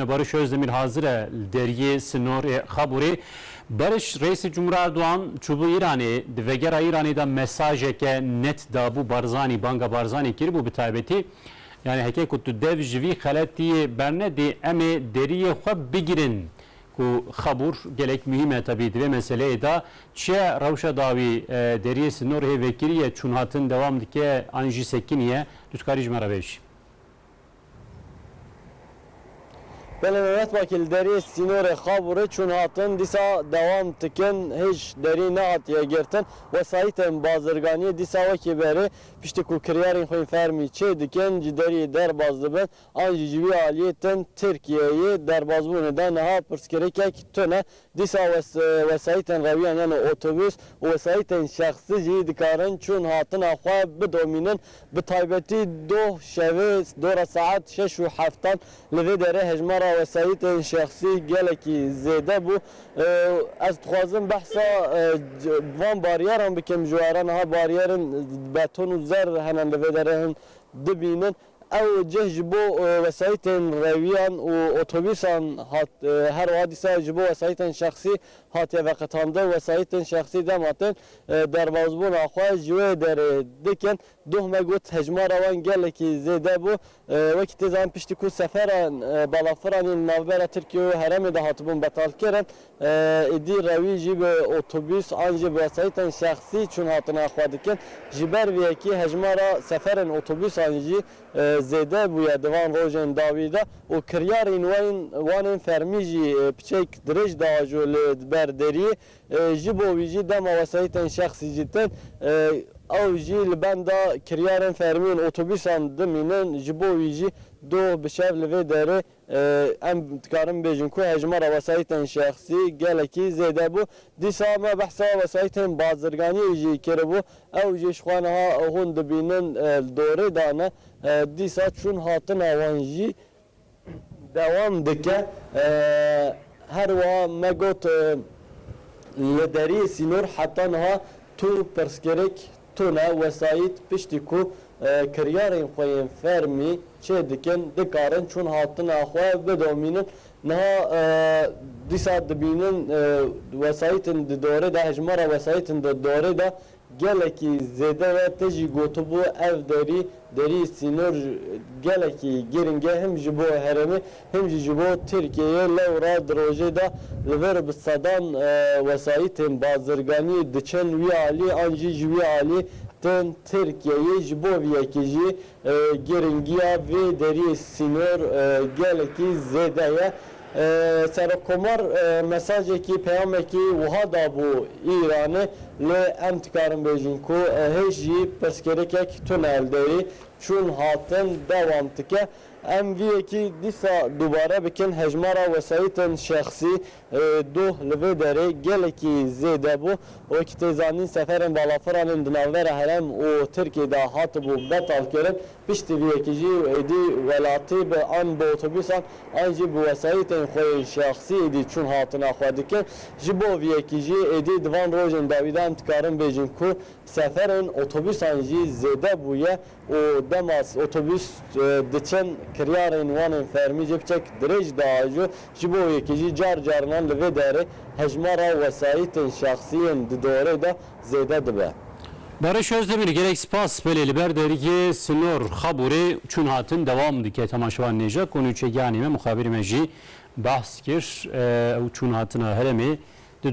Barış Özdemir hazır e li deriyê sinorê Xaburê. Barış, Reîsê Cumhurê Erdogan çûbû Îranê, di vegera Îranê de mesajeke net dabû Barzanî, banga Barzanî kiribû bi taybetî. Yanî heke ku tu dev ji vî xeletiyê bernedî em ê deriyê xwe bigirin ku Xabûr gelek muhîm e tevî di vê meseleyê de. Çi ye rewşa dawî deriyê sinorê vekirî ye, çûnhatin dewam dike an jî sekinî ye? Tu dikarî ji me re bêjî. Gelê me wextbakî li deriyê sînorê Xabûrê çûn hatin dîsa dewam dikin hêj derî nehatiye girtin. Wesayîtên bazirganiyê dîsa wekî berê piştî ku kiryarên xwên fermî çê dikin ji deriyê derbas dibin an jî ji vî aliyê tên Tirkiyeyê derbasbûnê de niha pirsgirêkek tune Dîsa wesayîtên rewiyan yano otobus û wesayîtên şexsî jî dikarin çûn hatina xwe bidomînin, bi taybetî doh şevê dora saet şeş û heftan. Li vê derê hejmara wesayîtên şexsî gelekî zêde bû. Ez dixwazim behsa van baryeran bikim ji we re. Niha baryerên beton û zer hene li vê derê hûn dibînin. Ew cih ji bo wesayîtên rewiyan û otobûsan hat, her wiha dîsa ji bo wesayîtên şexsî hatiye veqetandin. Wesayîtên şexsî dema tên derbasbûna xwe ji wê derê dikin. Dohme got, Hejmara wan gelekî zêde bû. Wekî tê zanîn piştî ku seferan balafiran yên li navbera Tirkiye û herêmê de hatibûn betalkirin, Êdî rewî jî bi otobûs an jî bi wesayîtên şexsî çûn hatina xwe dikin. Ji ber vê yekê hejmara seferên otobûsan jî zêde bûye di van rojên dawî de û kiryarên we yên wan ên fermî jî piçeyek dirêj diajo li ber deriyê. Ji bo wî jî dema wesayîtên şexsî jî tên ew jî li benda kiryarên fermî yên otobûsan dimînin. Ji bo wî jî doh bi şev li vê derê Em dikarin bêjin ku hejmara wesayîtên şexsî gelekî zêde bû. Dîsa me behsa wesayîtên bazirganiyê jî kiribû. Ew jî ji xwe niha hûn dibînin li dorê de ne. Dîsa çûn hatina wan jî dewam dike. Her wiha me got li deriyê sînor heta niha tu pirsgirêk Tune wesayît piştî ku kiryarên xwe yên fermî çê dikin, dikarin çûn hatina xwe bidomînin. Niha dîsa dibînin wesayîtên di dorê de, hejmara wesayîtên di dorê de gelekî zêde ye. Te jî gotibû ev derî Derî sînor gelekî girîng e him ji bo herêmê him jî ji bo Tirkiyeyê lewra di rojê de li vir bi sedan wesayîtên bazirganiyê diçin wî alî an jî ji wî alî tên Tirkiyeyê ji bo vî yekê jî girîngiya vê derîyê sînor gelekî zêde ye Serokkomar mesajekî, peyamekî wiha dabû Îranê, lê em dikarin bêjin ku hêj jî pirsgirêkek tune li derî çûn hatin dewam dike. Em vî yekî dîsa dubare bikin, hejmara wesayîtên şexsî doh li vê derê gelekî zêde bû. Wekî tê zanîn seferên balafiranên di navbera herem û Tirkiyê de hatibû betalkirin, Piştî vê yekê jî êdî welatî bi an bi otobûsan an jî bi wesayîtên xwe yên şexsî êdî çûn hatina xwe dikin. Ji bo vê yekê jî êdî di van rojên dawî de em dikarin bêjin ku seferên otobûsan jî zêde bûye û dema otobûs diçin kiryarên wan ên fermî jî biçek dirêj diajo. Ji bo vê yekê jî car carinan li vê derê hejmara wesayîtên şexsî yên di dorê de zêde dibe. Barış Özdemir gerek spas belê li ber dergiyê Sinor Xaburê çûn hatin dewam dike. Tema şevan nêja ku nûçegiyanê me, muxabirê me jî behs kir. Ew çûn hatina herêmê di